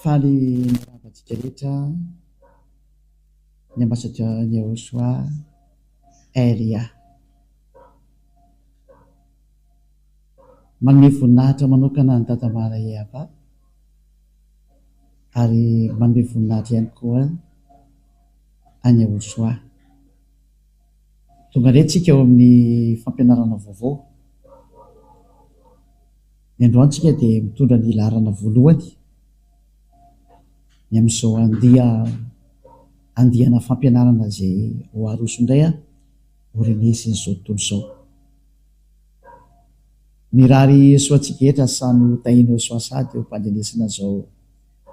Faly manaraka antsika rehetra ny Ambassadeur Yehosua Elia. Manome voninahitra manokana an'i Dada Mara Yehava ary manome voninahitra ihany koa. any Ahosoa. Tonga indray isika ao amin'ny fampianarana vaovao. Ny androany isika dia mitondra ny laharana voalohany ny amin'izao andiana fampianarana izay ho aroso indray aorian'izin'izao tontolo izao. Mirary soa antsika rehetra samy ho tahian'i Ahosoa sahady eo am-pandrenesana izao.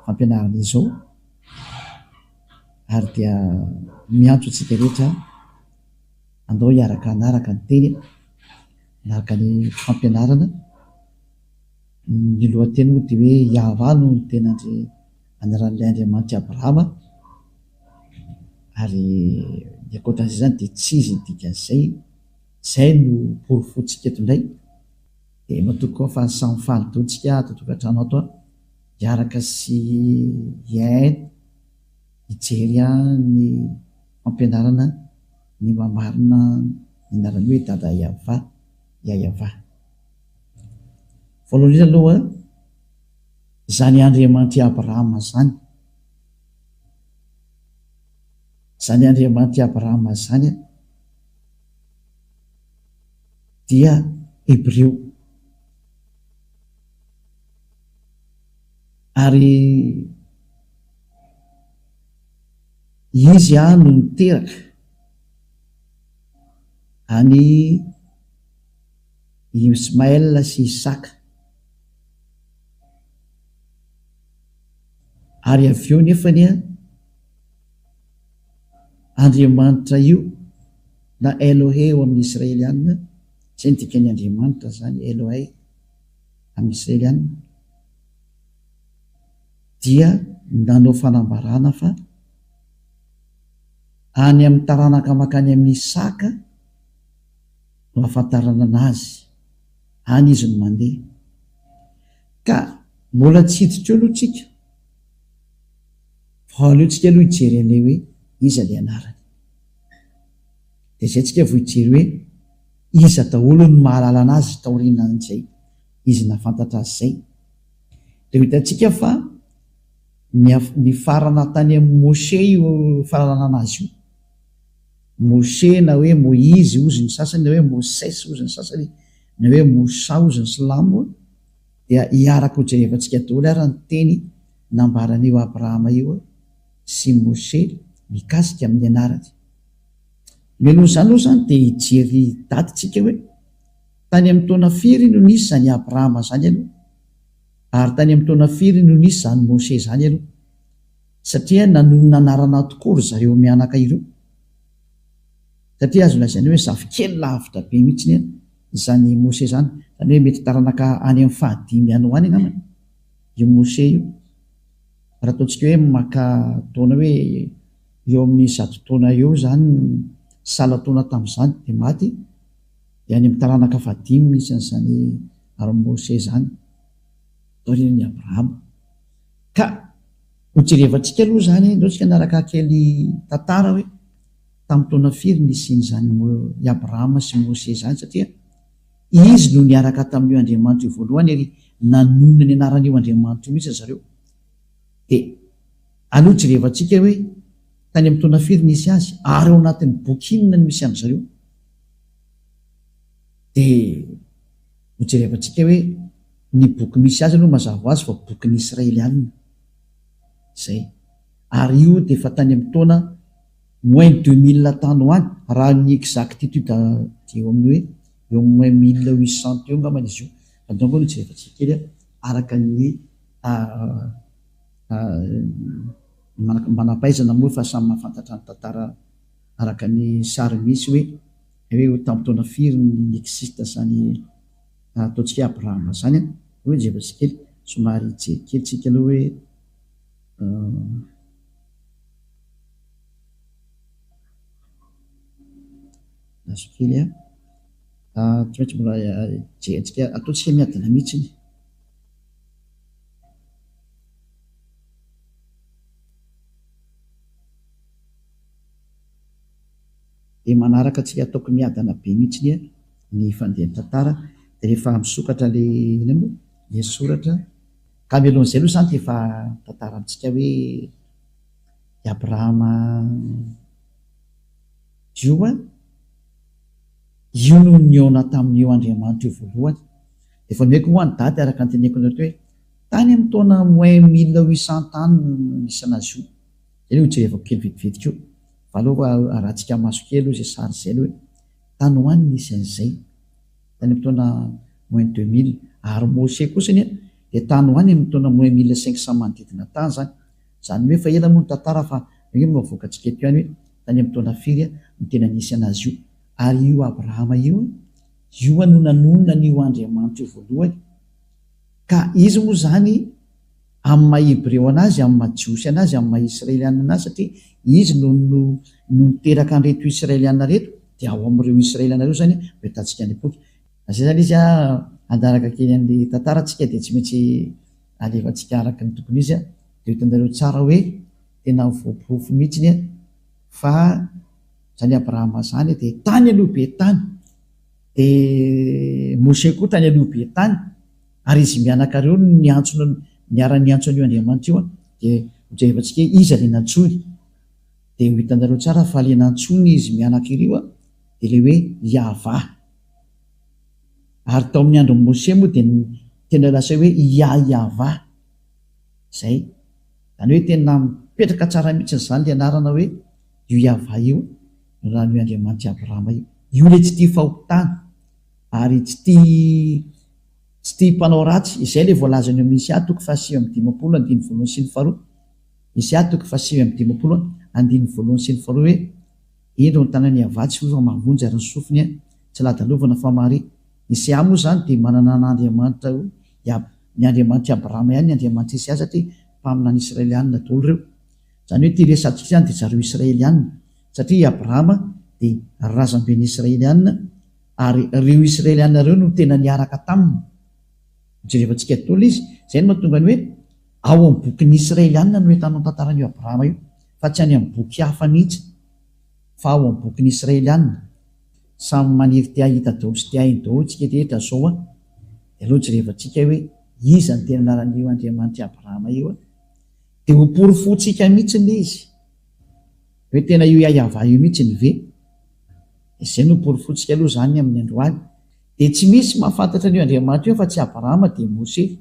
fampianarana izao ary dia miantso antsika rehetra andao hiaraka hanaraka ny teny, hanaraka ny fampianarana. Ny lohateny moa dia hoe Yahavah no niteny andry anaran'ilay Andriamanitr'i Abrahama ary ny ankoatran'izay izany dia tsy izy ny dikan'izay. Izay no porofointsika eto indray. Dia matoa koa fa samy faly daholo isika ato an-tokantrano ato an! hiaraka sy hiain hijery ahy ny fampianarana ny mamarina ny anarany hoe Dada Yava, Yayava. Voalohany indrindra aloha, izany Andriamanitry Abrahama izany, izany Andriamanitry Abrahama izany dia Hebreo. Ary izy no niteraka an'i Ismaël sy Isaka. Ary avy eo nefany an, Andriamanitra io na Elohe ao amin'ny Israeliana, izay no dikan'ny Andriamanitra izany, Elohe. amin'i Selen dia nanao fanambarana fa any amin'ny taranaka mankany amin'i Isaka no ahafantaranana azy, any izy no mandeha. Ka mbola tsy hiditra eo aloha tsika fa aleontsika aloha hijery an'ilay hoe iza ilay anarany. Dia izay tsika vao hijery hoe. Iza daholo no mahalala an'azy taorianan'izay izy nahafantatra azy izay? Dia ho hitantsika fa nifarana tany amin'i Moshe io fanalalana azy io. Moshe na hoe Moizy hozy ny sasany na hoe Moses hozy ny sasany na hoe Moussa hozy ny silamo dia hiaraka ho jerevantsika daholo ary ny teny nambaran'io Abrahama io sy Moshe mikasika amin'ny anarany. Ve noho izany oa izany dia hijery daty tsika hoe, tany amin'ny taona firy no nisy izany Abrahama izany aloha? Ary tany amin'ny taona firy no nisy izany Mose izany aloha? Satria nanonona anarana tokoa ry zareo mianaka ireo. Satria azo lazaina hoe zafikely lavitra be mihitsy anie izany Mose izany. Izany hoe mety taranaka any amin'ny fahadimy any ho any angamba io Mose io. Raha ataontsika hoe maka taona hoe. Eo amin'ny zato taona eo izany ny sahala taona tamin'izany dia maty, dia any amin'ny taranaka fahadimy misy an'izany Armose izany, taorian'i Abrahama. Ka ho jerevantsika aloha izany, aleo tsika niaraka kely tantara hoe tamin'ny taona firy nisian'izany i Abrahama sy Mose izany satria izy no niaraka tamin'io Andriamanitra io voalohany ary nanonona ny anaran'io Andriamanitra io mihitsy ry zareo. Dia. Aleo jerevantsika hoe tany amin'ny taona firy nisy azy ary ao anatin'ny boky inona no misy an-dry zareo. Dia hojerevantsika hoe ny boky misy azy aloha mazava ho azy fa bokin'ny Israeliana. Izay. Ary io dia efa tany amin'ny taona moins deux mille tany ho any, raha ny exactitude dia eo amin'ny hoe eo amin'ny moins mille huit cent teo angambany izy io. Fa donc aloha jerevantsika kely araka ny Ka manam-pahaizana moa fa samy mahafantatra ny tantara araka ny sary misy hoe hoe ho tamin'ny taona firy no nixista zany ataontsika hoe Abrahama zany an! Hoy Jerozy kely somary hijery kely tsika aloha hoe uhm. Azo kely an! Tsy maintsy mbola hijery antsika ataontsika miadana mihitsy iny. Dia manaraka tsy ataoko miadana be mihitsy anie ny fandehan'ny tantara dia rehefa misokatra le inona moa le soratra ka mialohan'izay aloha zany dia efa tantara amintsika hoe i Abrahama Joa io no nihaona tamin'io Andriamanitra io voalohany Dia fanehiko hoa ny daty araka ny teneniko anareo hoe, tany amin'ny taona moins mille huit cents tany no nisy anazy io. Izay aloha hojerevako kely vetivety koa, fa aleo aloha arahantsika maso kely aloha izay sary izay aloha hoe, tany hoa no nisy an'izay, tany amin'ny taona moins deux mille. Ary Mosè kosa anie dia tany hoa ny amin'ny taona moins mille cinq cents manodidina tany izany. Izany hoe efa ela moa ny tantara fa angamba no avoakantsika eto ihany hoe, tany amin'ny taona firy no tena nisy anazy io. Ary io Abrahama io. Ioa no nanonona an'io Andriamanitra io voalohany, ka izy moa izany amin'ny maha Hebreo an'azy, amin'ny maha Jiosy an'azy, amin'ny maha Israeliana an'azy, satria izy no no no niteraka an'ireto Israeliana ireto, dia ao amin'ireo Israeliana ireo izany no ahitantsika an'i Poky. Na izay izany izy, handaraka kely an'ilay tantara tsika dia tsy maintsy alefantsika araka ny tokony izy, dia ho hitanareo tsara hoe tena voaporofo mihitsy fa, Zany Abrahama zany dia tany aloha be tany, dia Mose koa tany aloha be tany, ary izy mianaka reo no niantso niara niantso an'io Andriamanitra io an, dia hojerevantsika hoe iza le nantsoiny, dia ho hitanareo tsara fa le nantsoiny izy mianaka ireo an, dia le hoe Iahvah, ary tao amin'ny andron'i Mose moa dia tena lasainy hoe Iaiahvah, zay, zany hoe tena mipetraka tsara mihitsy zany le anarana hoe. io Yavah io, ny rano io Andriamanitr'i Abrahama io. Io ilay tsy tia fahotana, ary tsy tia tsy tia mpanao ratsy. Izay ilay voalazany ao amin'ny Isa toko fahasivy amby dimampolo andininy voalohany sy ny faharoa. Isa toko fahasivy amby dimampolo andininy voalohany sy ny faharoa hoe, Indro ny tanan'i Yavah tsy hova mahavonjy ary ny sofiny tsy ladalovana fa mahare. Isa moa izany dia manana an'Andriamanitra io Yab, ny Andriamanitr'i Abrahama ihany ny Andriamanitr'i Isa satria mpaminany Israelianina daholo ireo. Izany hoe ity resahantsika izany dia zareo Israelianina, satria i Abrahama dia razamben'ny Israelianina ary ireo Israelianina ireo no tena niaraka taminy. Hojerevantsika daholo izy. Izay no mahatonga ny hoe ao amin'ny bokin'ny Israelianina no ahitanao ny tantaran'io Abrahama io, fa tsy any amin'ny boky hafa mihitsy, fa ao amin'ny bokin'ny Israelianina. Samy maniry te hahita daholo sy te hahay daholo isika rehetra izao an! Dia aleo jerevantsika hoe iza no tena niara-nio Andriamanitr'i Abrahama io an! Dia ho porofontsika mihitsy le izy hoe tena io Yayavah io mihitsy ny ve? Dia zay no porofontsika aloha zany amin'ny androany. Dia tsy misy mahafantatra an'io Andriamanitra io afa tsy Abrahama dia Mose.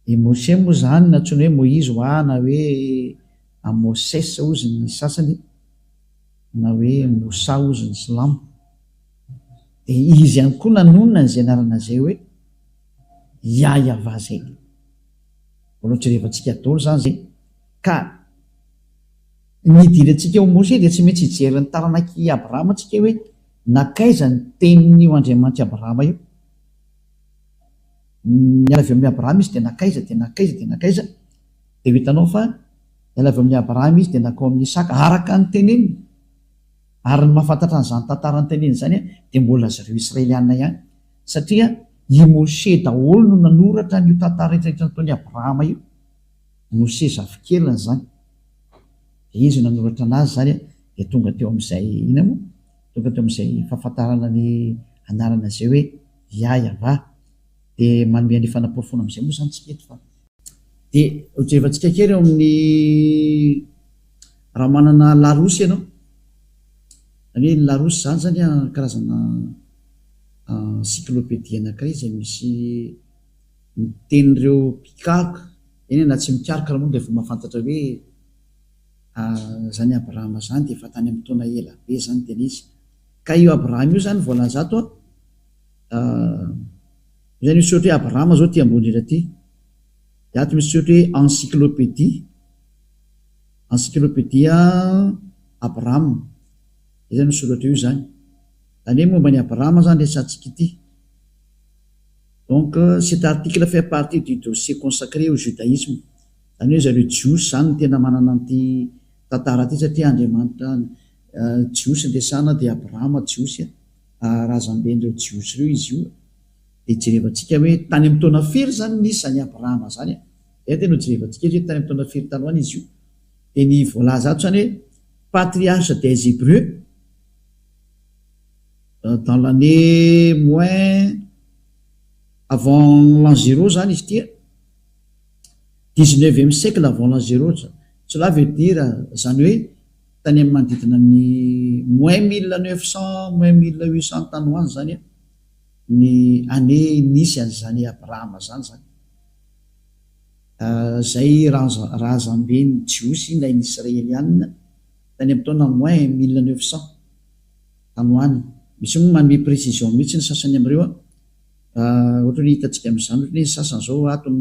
Dia Mose moa zany nantsoina hoe Moizy hoa na hoe a Moses hozy ny sasany na hoe Moussa hozy ny silamo. Dia izy ihany koa nanonona an'izay anarana zay hoe Yayavah zay. Mbola jerevantsika dolo zany zay ka ny idirantsika ho Mose dia tsy maintsy hijery ny taranak'i Abrahama tsika hoe nankaiza ny tenin'io Andriamanitry Abrahama io. Niala avy eo amin'i Abrahama izy dia nankaiza dia nankaiza dia nankaiza dia ho hitanao fa niala avy amin'i Abrahama izy dia nankao amin'i Isaka araka ny teneniny ary ny mahafantatra an'izany tantara noteneniny izany dia mbola zareo Israeliana ihany. satria i Moshe daholo no nanoratra an'io tantara retraretra nataon'i Abrahama io, Moshe zafikeliny zany, de izy no nanoratra anazy zany de tonga teo am'zay inona moa? tonga teo am'zay fahafantarana ny anarana zay hoe Yah-yavah, de manome an'le fanaporofoana am'zay moa zany tsika eto fa. Dia hojevantsika kely ao amin'ny raha manana larosy ianao, izany hoe ny larosy izany izany an, karazana encyclopédie anankiray izay misy ny tenin'ireo mpikaroka, eny na tsy mikaroka ary moa dia efa mahafantatra hoe izany Abrahama izany dia efa tany amin'ny taona ela be izany ny tena izy. Ka io Abrahama io izany voalaza ato an, Izay misy ohatra hoe Abrahama izao ity ambony indrindra ity, dia ato misy ohatra hoe encyclopédie, encyclopédia Abrahama, izay izany no soratra eo izany. Izany hoe momba an'i Abrahama izany resahantsika ity. Donc, cet article fait partie du dossier consacré au judaisme. Izany hoe zareo Jiosy izany no tena manana an'ity tantara ity satria Andriamanitra Jiosy no resahana dia Abrahama Jiosy, razamben'ireo Jiosy ireo izy io. Dia jerevantsika hoe tany amin'ny taona firy izany no nisy izany Abrahama izany e. Izay dia nojerevantsika eto hoe tany amin'ny taona firy tany ho any izy io. Dia ny voalaza ato izany hoe patriarche des Hébreux dans l'année moins avant l'an zéro izany izy ity e. Dix-neuvième siècle avant l'an zéro. Cela veut dire izany hoe tany amin'ny manodidina ny moins mille neuf cents, moins mille huit cents tany ho any izany e. Ny année nisy an zany Abrahama zany zany ah zay razamben ny Jiosy ilay ny Israelianina tany am taona moins mille neuf cent tany ho any. Misy moa manome précision mihitsy ny sasany amreo an ah ohatra hoe hitantsika am zany ohatra hoe ny sasany zao ato am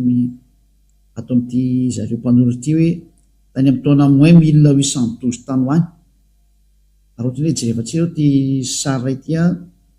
ato am ty zareo mpanoro ity hoe tany am taona moins mille huit cent douze tany ho any ary ohatra hoe jerevantsika zao ty sary ray ty an.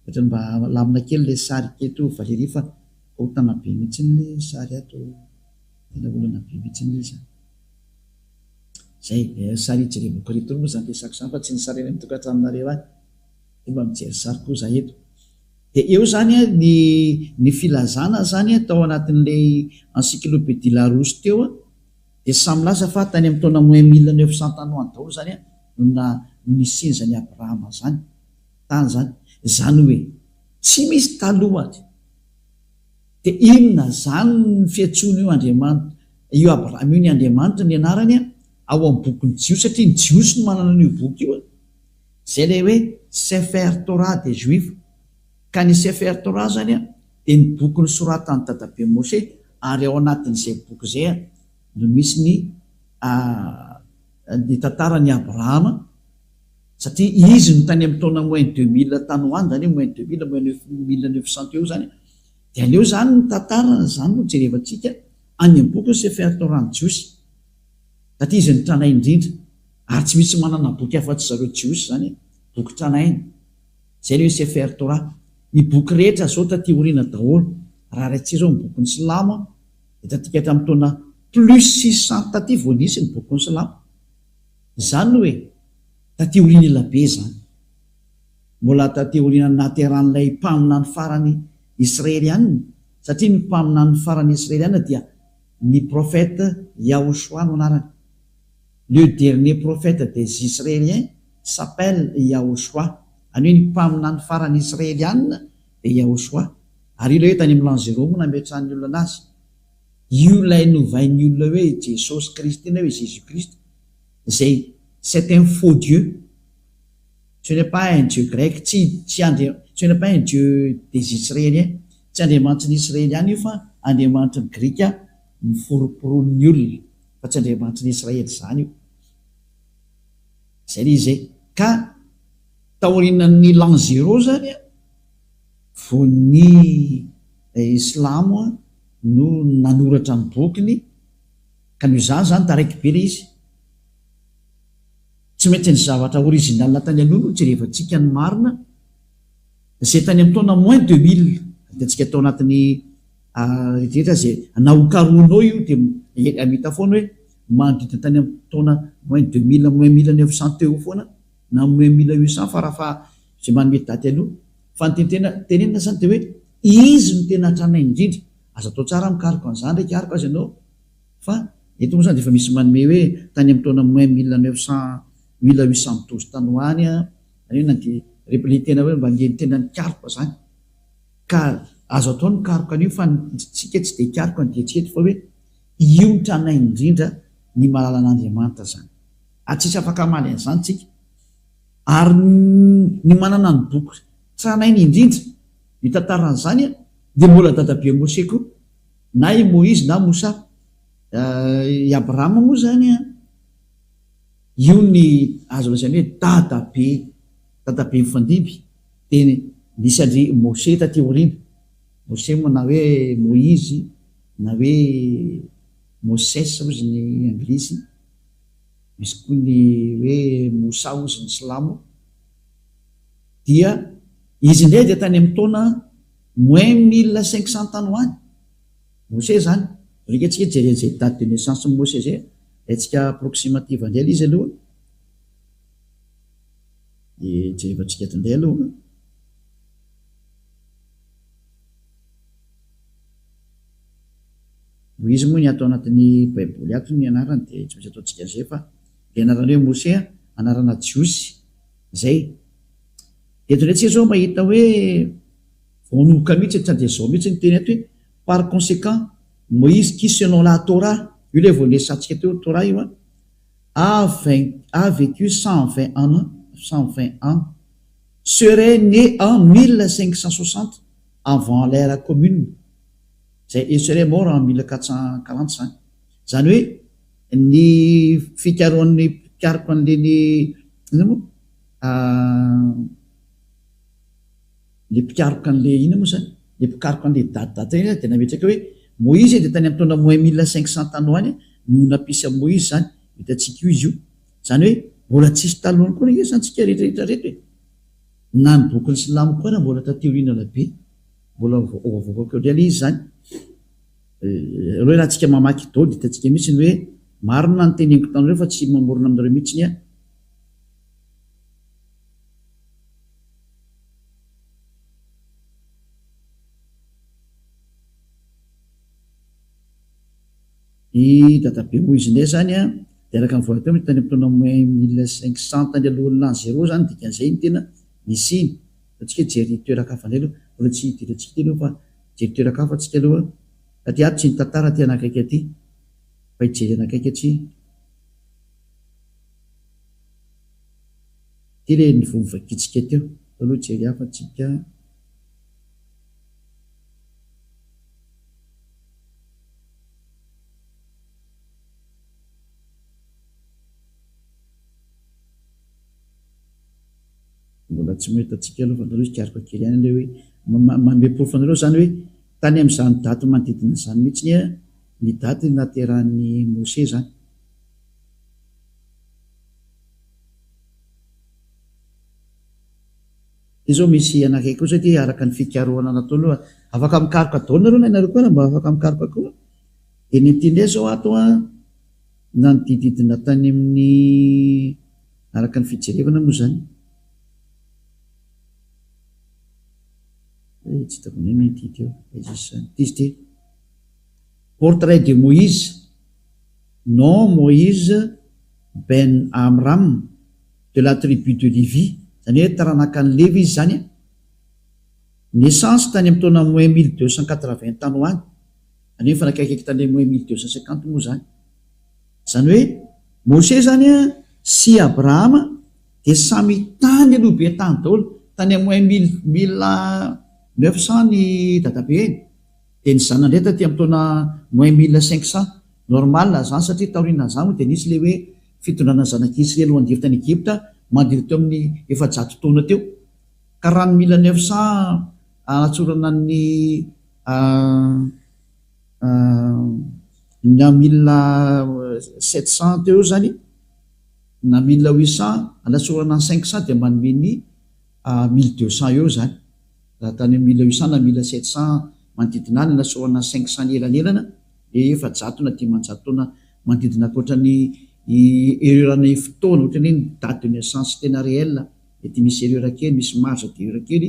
Ohatra mba alamina kely ilay sary eto Valerie fa ahotana be mihitsy ny sary ato tena olana be mihitsy ilay izy a! Zay, eh, sary ijerevako ireto ry moa zany resako zany fa tsy ny sary any amin'ny tokantranonareo any, de mba mijery sary koa za eto. De eo zany a ny ny filazana zany a tao anatin'ilay encyclopedie Larousse teo a de samy milaza fa tany amin'ny taona moins mille neuf cent tany ho any daholo zany a no na no nisian'izany Abrahama zany. tany zany zany hoe tsy misy taloha ady de inona zany ny fiantsoana io Andriamanitra io Abraham io ny Andriamanitra ny anarany a ao am bokin'ny jiosy satria ny jiosy no manana an'io boky io a zay le hoe sefer torah de juifs ka ny sefer torah zany a de ny boky nosoratan'ny dadabe Moshe ary ao anatin'izay boky zay a no misy ny a ny tantaran'i Abrahama satria izy no tany amin'ny taona moins deux mille tany ho any, izany hoe moins deux mille, moins neuf mille neuf cent teo izany, dia aleo izany ny tantara, izany no jerevantsika any amin'ny bokin'i Sefer Torah ny Jiosy, satria izy no tranainy indrindra, ary tsy misy manana boky afa-tsy zareo Jiosy izany e, boky tranainy, izay ny hoe Sefer Torah, ny boky rehetra zao taty aoriana daholo, raha raintsika izao ny bokin'ny Silamo dia tatika hatramin'ny taona plus six cent taty vao nisy ny bokin'ny Silamo. Izany hoe taty aoriana ela be izany. Mbola taty aoriana nahaterahan'ilay mpaminany farany Israeliana, satria ny mpaminany farany Israeliana dia ny prophète Yahushua no anarany. Le dernier prophète des Israéliens s'appelle Yahushua, any hoe ny mpaminany farany Israeliana dia Yahushua. Ary io ilay hoe tany amin'ny l'an zéro moa nametrahan'ny olona anazy. Io ilay novain'ny olona hoe Jesosy Kristy na hoe Jésus Christ izay c'est un faux Dieu. Ce n'est pas un Dieu grec, tsy tsy Andria, ce n'est pas un Dieu des Israéliens, tsy Andriamanitry ny Israeliana io fa Andriamanitry ny Grika noforomporon'ny olona fa tsy Andriamanitry ny Israely izany io. Izay ilay izy e. Ka taorianan'ny l'an zéro izany a, Voan'ny Islamo no nanoratra ny bokiny ka noho izany izany taraiky be ilay izy. Tsy maintsy ny zavatra original tany aloha no jerevantsika ny marina izay tany amin'ny taona moins deux mille adintsika tao anatin'ny rehetrarehetra izay na ho karohinao io dia hamita foana hoe manodidina tany amin'ny taona moins deux mille moins mille neuf cent teo foana Nanome mila io saha fa rafa izay manome daty aloha fa ny tiany tena tenenina zany de hoe izy no tena tranainy indrindra aza atao tsara mikaroka an'izany re ikaroka aza ianao fa eto moa zany de efa misy manome hoe tany amin'ny taona moins mille neuf cent mille huit cent douze tany ho any an ary na de rehefa le tena hoe mba le tena nikaroka zany ka azo atao ny mikaroka an'io fa ny tsika tsy de hikaroka ny dia tsy eto fa hoe io ny tranainy indrindra ny malalan'Andriamanitra zany ary tsisy afaka hamaly an'izany tsika ary ny manana ny boky tranainy indrindra mitantara an'izany dia mbola dadabe Moshe koa na i Moizy na Mosa i Abraham moa izany an io ny azo lazaina hoe dadabe dadabe mifandimby dia nisy andry Moshe taty aoriana Moshe moa na hoe Moizy na hoe Moses hozy ny anglisy Misy koa ny hoe Moussa ozy ny silamo dia izy indray dia tany amin'ny taona moins mille cinq cents tany ho any Mosè izany alika antsika hijerena izay date de naissance ny Mosè izay alaintsika approximative indray ilay izy aloha dia jerevantsika eto indray aloha. Noho izy moa ny ato anatin'ny baiboly ato ny anarany dia tsy maintsy ataontsika zepa ilay anarany hoe Mose an, anarana jiosy izay. Eto indray tsika zao mahita hoe voanohoka mihitsy e, tsy handeha zao mihitsy ny teny ato hoe par conséquent Moïse qui selon la Torah, io ilay vao niresahantsika teo Torah io an, a vain, a vécu cent vingt ans, cent vingt ans, serait né en mille cinq cent soixante avant l'ère commune. izay esrem ao raha mila katsan-kalanty izany. Izany hoe ny fikarohan'ny mpikaroka an'ireny inona moa ilay mpikaroka an'ilay inona moa izany ilay mpikaroka an'ilay date date ireny dia nametraka hoe Moizy dia tany amin'ny taona moins mille cinq cent tany ho any no nampisy an'i Moizy izany. Hitantsika io izy io. Izany hoe mbola tsy nisy talohan'ny koa anie izany tsika rehetra rehetra ireto e! Na ny bokin'ny silamo koa ara mbola taty aoriana ela be. Mbola ho avoakako eo indray le izy izany. Aleo ialahy tsika mamaky dôdy hitantsika mihitsy ny hoe marina ny teneniko taminareo fa tsy mamorona aminareo mihitsy ny ahy. I dadabe Moizine izany an, dia araka ny voalaza teo tany amin'ny taona moins mille cinq cent tany alohan'ny l'an zéro izany dikan'izay no tena nisiany. antsika hijery toeran-kafa indray aloha, mbola tsy dirantsika teny io fa hijery toeran-kafa tsika aloha fa aty ato tsy ny tantara aty anakaiky aty fa hijery anakaiky aty aty le niveau nivakiantsika teo atao aloha hijery hafa atsika. Mbola tsy mahita antsika aloha fa anareo hikaroka kely ihany ilay hoe manome porofo anareo izany hoe tany amin'izany daty manodidina izany mihitsy anie ny daty naterahan'i Mosesy izany. Ity izao misy anakay kosa ity araka ny fikarohana nataony hoe afaka mikaroka daholo nareo na ianareo koa raha mba afaka mikaroka koa. Dia ny ity indray izao ato an, nanodididina tany amin'ny Araka ny fijerevana moa izany, Portrait de Moïse, nom Moïse ben Amram de la tribu de Levi, izany hoe taranakan'i Levy izy izany, naissance tany amin'ny taona moins mille deux cent quatre-vingts tany ho any, izany hoe mifanakaiky tany amin'ny moins mille deux cent cinquante moa izany. Izany hoe Mose izany sy Abrahama dia samy tany aloha be tany daholo, tany am oin mille mille neuf cent ny dadabehiny dia ny zanany indray taty am taona moins mille cinq cent, normal izany satria taorianan'izany moa dia nisy ilay hoe fitondrana zanak'Israely ho andiry tany Egypta mandritra teo amin'ny efajato taona teo ka raha ny mille neuf cent anatsorana ny Ny amin'ny milina sept cents teo izany na milina huit cents anatsorana ny cinq cents dia manome ny mille deux cents eo izany, raha tany amin'ny milina huit cents na milina sept cents manodidina ahy no anatsorana ny cinq cents ny elanelana dia efajato na dimanjato taona manodidina ankoatra ny erreur an'ny fotoana, ohatran'ny hoe ny date de naissance tena réel dia misy erreur kely, misy marge d'erreur kely.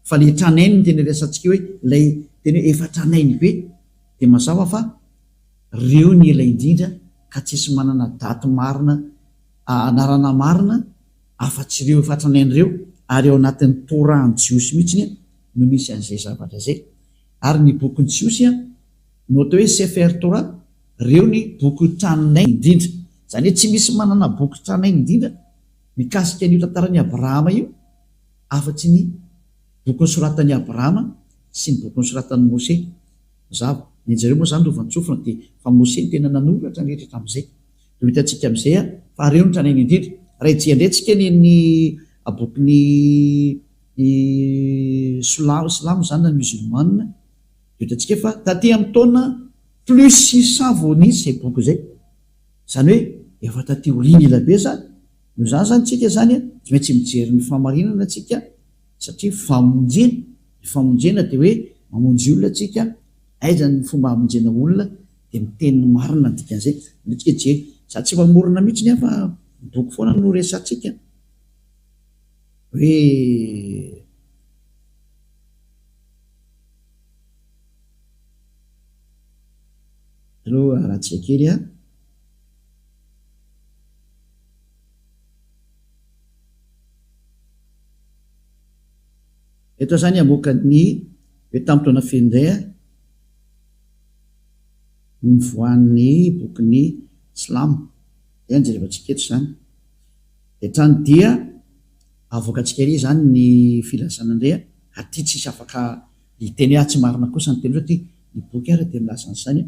fa le tranainy no tena rehasantsika eo hoe ilay tena hoe efa tranainy be dia mazava fa reo ny ela indrindra ka tsisy manana daty marina anarana marina afa tsy reo efa tranainy reo ary ao anatin'ny toran jiosy mihitsy no misy an'izay zavatra zay ary ny bokin'ny jiosy a no atao hoe sefer torah reo ny boky tranainy indrindra zany hoe tsy misy manana boky tranainy indrindra mikasika an'io tantaran'i abrahama io Afa-tsy ny Boky nosoratan'i Abrahama sy ny Boky nosoratan'i Mose. Mazava. Ny an'izareo moa izany novan-tsofina dia fa Mose no tena nanoratra ny rehetra hatramin'izay. Dia ho hitantsika amin'izay fa ireo no tranainy indrindra. Raha hijery indray tsika ny an'ny bokin'ny Sla, Silamo izany na Musulman, dia ho hitantsika fa taty amin'ny taona plus six cents vao nisy izay boky izay. Izany hoe efa taty aoriana elabe izany. Noho izany izany tsika izany tsy maintsy mijery ny fahamarinana tsika satria famonjena, ny famonjena dia hoe mamonjy olona tsika, aiza ny fomba hamonjena olona dia miteny ny marina ny dikan'izay, aleo tsika hijery, za tsy mamorona mihitsy ny ahy fa ny boky foana no resatsika hoe. Aleo arahantsika kely an. Eto izany hamoaka ny hoe tamin'ny taona feno indray aho no nivoahan'ny bokin'ny silamo dia jerevantsika eto izany hatrany dia avoakantsika ery izany ny filazana indray an! aty tsisy afaka hiteny hoe atsy marina kosa ny teny satria ny boky ary dia milaza an'izany an!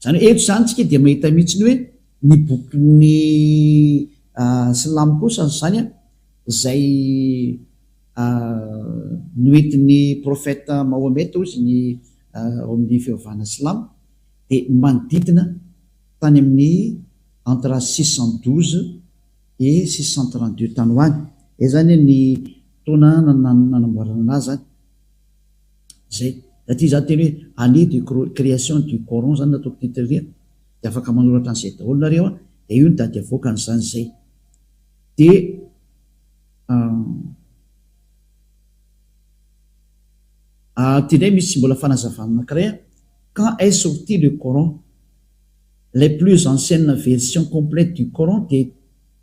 Izany hoe eto izany tsika dia mahita mihitsy ny hoe ny bokin'ny silamo kosa izany izay noentin'ny prophète Mahomet hozy ny ao amin'ny fivavahana silamo dia manodidina tany amin'ny entre six cent douze et six cent trente deux tany ho any, izay izany ny taona nanamboarana anazy izany. Zay. Raha ty za teny hoe année de création du coran zany nataoko titre ry a, de afaka manoratra an'izay daholo nareo a, de io ny dady avoakan'izany zay. De ah ty ndray misy tsy mbola fanazavana anakiray a, quand est sorti le coran? les plus anciennes versions complètes du coran dia.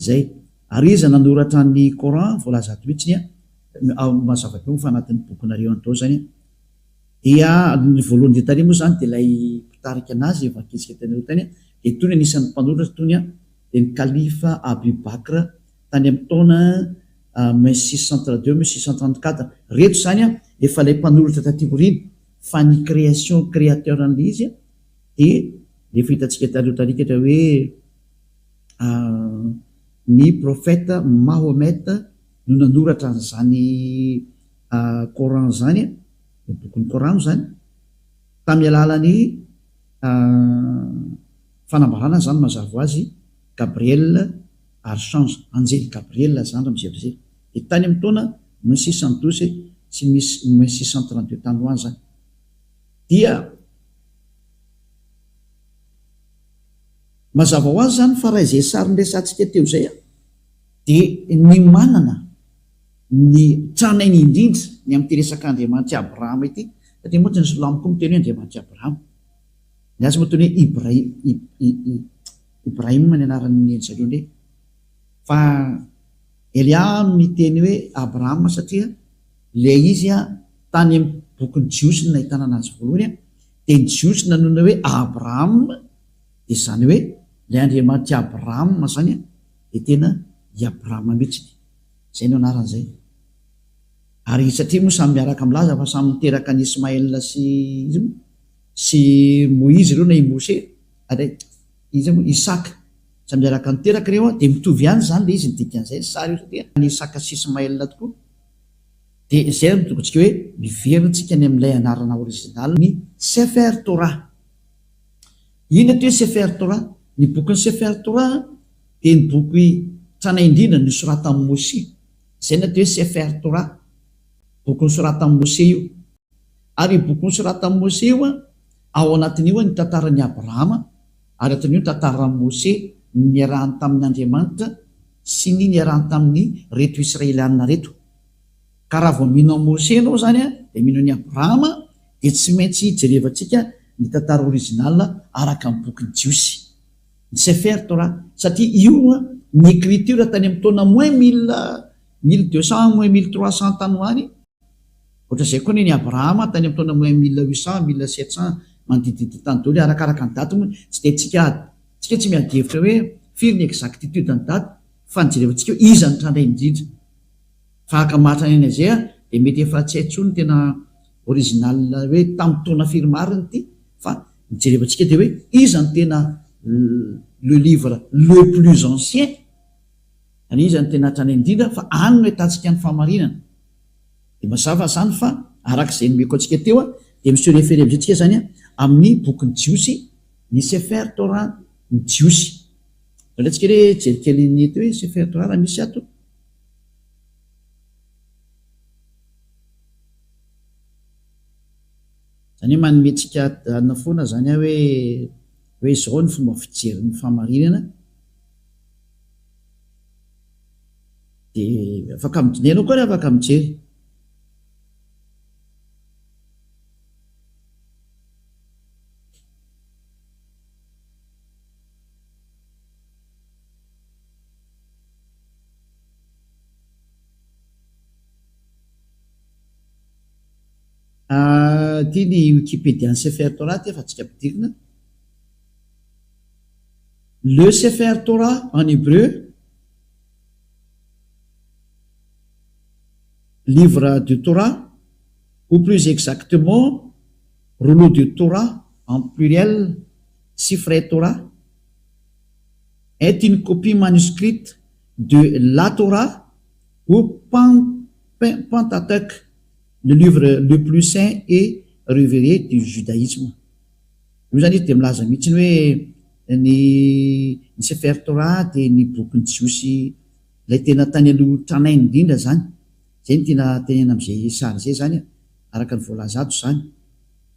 Izay. Ary iza nanoratra ny Coran voalaza ato mihitsiny an, ao amin'ny mazava be moa fa anatin'ny bokinareo any daholo izany an. Dia ny voalohany dia tary moa izany dia ilay mpitarika anazy efa nikitsika teny aloha teny an, dia toy ny anisan'ny mpanoratra toy ny an, dia ny Kalifa Abu Bakr tany amin'ny taona min six cent trente deux min six cent trente quatre. Ireto izany an, efa ilay mpanoratra taty aoriana, fa ny création, créateur an'ilay izy an, dia efa hitantsika tary aloha tary an, ohatra hoe, Ny prophète Mahomet no nanoratra an'izany Coran izany, ny bokin'ny Korano izany, tamin'ny alalan'ny fanambarana izany mazava ho azy Gabriel Archange, Anjely Gabriel zandry mizerizera. Dia tany amin'ny taona mille six cent douze sy mille six cent trente deux tany ho any izany dia. Mazava ho azy izany fa raha izay sary niresahantsika teo izay dia ny manana ny tranainy indrindra ny amin'ity resaka Andriamanitry Abrahama ity satria moa tsy nisy lambo koa miteny hoe Andriamanitry Abrahama. Ny azy moa toy ny hoe Ibrahim, Ibrahim ny anaran'ny ry zareo indray fa Elia miteny hoe Abrahama satria ilay izy tany amin'ny bokin'ny Jiosy no nahitana anazy voalohany dia ny Jiosy nanonona hoe Abraham, Dia izany hoe ilay Andriamanitry Abrahama izany dia tena i Abrahama mihitsiny. Izay no anarany izay. Ary i satria moa samy miaraka milaza fa samy niteraka an'i Ismaela sy iza moa? sy Moizy ireo na i Mose ary iza moa? Isaka. Samy miaraka niteraka ireo dia mitovy ihany izany ilay izy ny dikan'izay ny sary io satria an'i Isaka sy Ismaela tokoa. Dia izay no tokontsika hoe miverina tsika any amin'ilay anarana original ny Sefer Torah. Inona ity hoe Sefer Torah? Ny bokin'ny Sefer Torah dia ny boky tranainy indrindra nosoratan'i Moshe. Izay no atao hoe Sefer Torah, boky nosoratan'i Moshe io. Ary io boky nosoratan'i Moshe io, ao anatin'io ny tantaran'i Abrahama, ary atin'io ny tantaran'i Moshe, ny niarahany tamin'Andriamanitra sy ny niarahany tamin'ireto Israelianina ireto. Ka raha vao mino an'i Mose ianao izany dia mino an'i Abrahama dia tsy maintsy jerevantsika ny tantara original araka ny bokin'ny Jiosy, ny Sefer Torah, satria io ny ecriture tany amin'ny taona moins mille, mille deux cents, moins mille trois cents tany ho any, ohatran'izay koa ny an'i Abrahama tany amin'ny taona moins mille huit cents, mille sept cents manodidididina tany daholo, arakaraka ny daty moa tsy dia haintsika, isika tsy miady hevitra hoe firy ny exactitude ny daty fa ny jerevantsika eo iza no tranainy indrindra. Tahaka Martin Henezea dia mety efa tsy hay tsony tena original hoe tamin'ny taona firy marina ity fa ny jerevantsika dia hoe iza no tena le livre le plus ancien ary iza no tena hatrany indrindra fa any no ahitantsika ny fahamarinana dia mazava izany fa araka izay nomeko antsika teo dia mi se referer amin'izay tsika izany amin'ny bokin'ny jiosy ny sefer torah ny jiosy Alantsika re jery kely ny eto hoe sefer torah raha misy ato. Izany hoe manome antsika adina foana izany aho hoe hoe izao ny fomba fijery ny fahamarinana dia afaka midinihana koa ary afaka mijery. Ity ny Wikipédia ny Sefer Torah ity fa tsy ampidirina. Le Sefer Torah en hébreu, livre du Torah, ou plus exactement, rouleau du Torah en pluriel, Sifrei Torah. est une copie manuscrite de la Torah ou Pentateuch, le livre le plus saint et reveré du judaisme. Io izany izy dia milaza mihitsy hoe ny ny Sefer Torah dia ny bokin'ny Jiosy ilay tena tany aloha tranainy indrindra izany. Izay no tiana tenenina amin'izay sary izay izany e, araka ny voalaza ato izany.